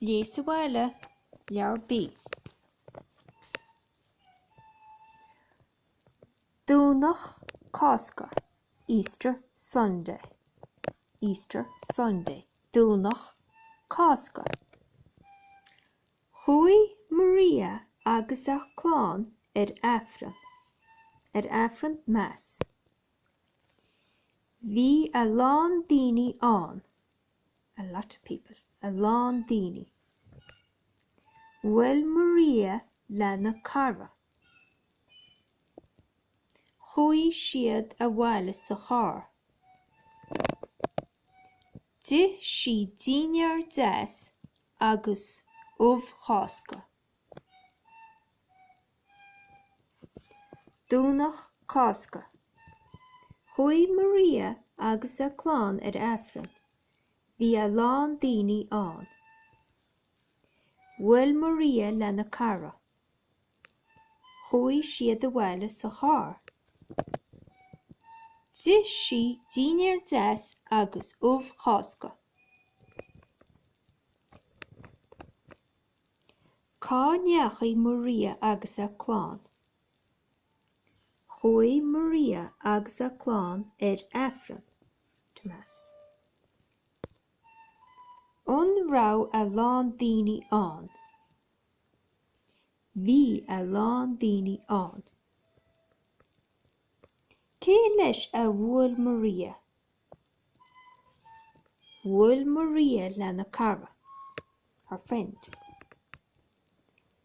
Léigh sa bhaile, Leabhar B. Domhnach Cásca, Easter Sunday, Easter Sunday, Domhnach Cásca. Chuaigh Maria agus a clann ar Aifreann, ar Aifreann, Mass. Bhí a lán daoine ann, a lot of people, a lán daoine. Bhuail Maria lena cara. Chuaigh siad abhaile sa charr. D'ith sí dinnéar deas agus ubh Chásca. Domhnach Cásca. Chuaigh Maria agus a clann ar Aifreann. Bhí a lán daoine ann. Bhuail Maria lena cara. Chuaigh siad abhaile sa charr. D'ith sí dinnéar deas agus ubh Chásca. Cá ndeachaigh Maria agus a clann? Chuaigh Maria agus a clann ar Aifreann, to Mass. An raibh a lán daoine ann? Bhí a lán daoine ann. Cé leis a bhuail Maria? Bhuail Maria lena cara, her friend.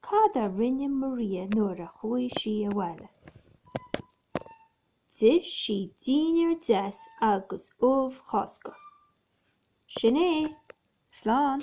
Cad a rinne Maria nuair a chuaigh sí abhaile? D'ith sí dinnéar deas agus ubh Chásca. Sin é. Slán!